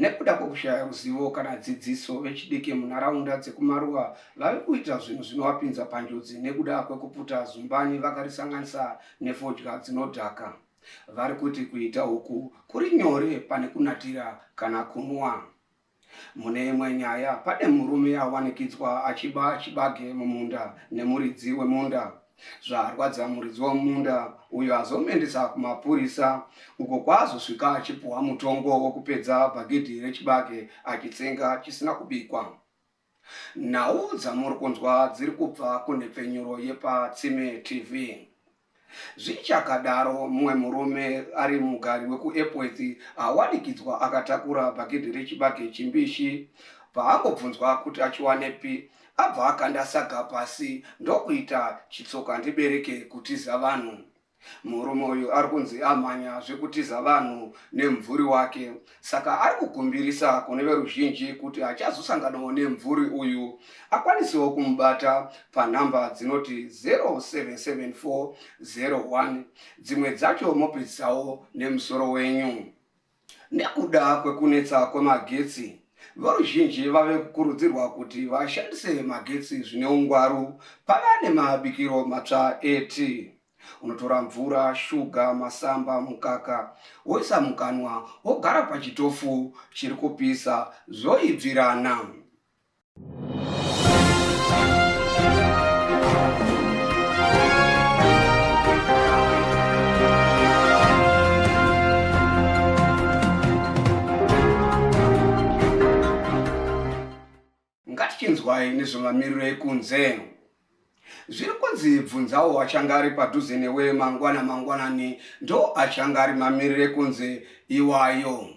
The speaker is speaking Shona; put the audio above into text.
Nekuda kwekushaya ruzivo kana dzidziso, vechidiki munharaunda dzekumaruwa vave kuita zvinhu zvinovapinza panjodzi nekuda kwekuputa zumbani vakarisanganisa nefodya dzinodhaka. Vari kuti kuita uku kuri nyore pane kunatira kana kunwa. Mune imwe nyaya, pane murume awanikidzwa achiba chibage mumunda nemuridzi wemunda. Zvarwadza muridzi wemunda uyo azomuendesa kumapurisa uko kwaazosvika achipuhwa mutongo wokupedza bhagidhi rechibage achitsenga chisina kubikwa. Nhau dzamuri kunzwa dziri kubva kunhepfenyuro yepaTsime TV. Zvichakadaro, mumwe murume ari mugari wekuEpworth awanikidzwa akatakura bhagidhi rechibage chimbishi paangobvunzwa kuti achiwanepi Abva akanda saga pasi ndokuita chitsoka ndibereke kutiza vanhu. Murume uyu ari kunzi amhanya zvekutiza vanhu nemvuri wake saka ari kukumbirisa kune veruzhinji kuti achazosanganawo nemvuri uyu akwanisewo kumubata panhamba dzinoti 077401 dzimwe dzacho mopedzisawo nemusoro wenyu. Nekuda kwekunetsa kwemagetsi, veruzhinji vave kukurudzirwa kuti vashandise magetsi zvine ungwaru pava nemabikiro matsva eti. Unotora mvura, shuga, masamba, mukaka woisa mukanwa wogara pachitofu chiri kupisa zvoibvirana. ngatichinzwai nezvemamiriro ekunze zviri kunzi bvunzawo achanga ari padhuze newe mangwana mangwanani ndo achanga ari mamiriro ekunze iwayo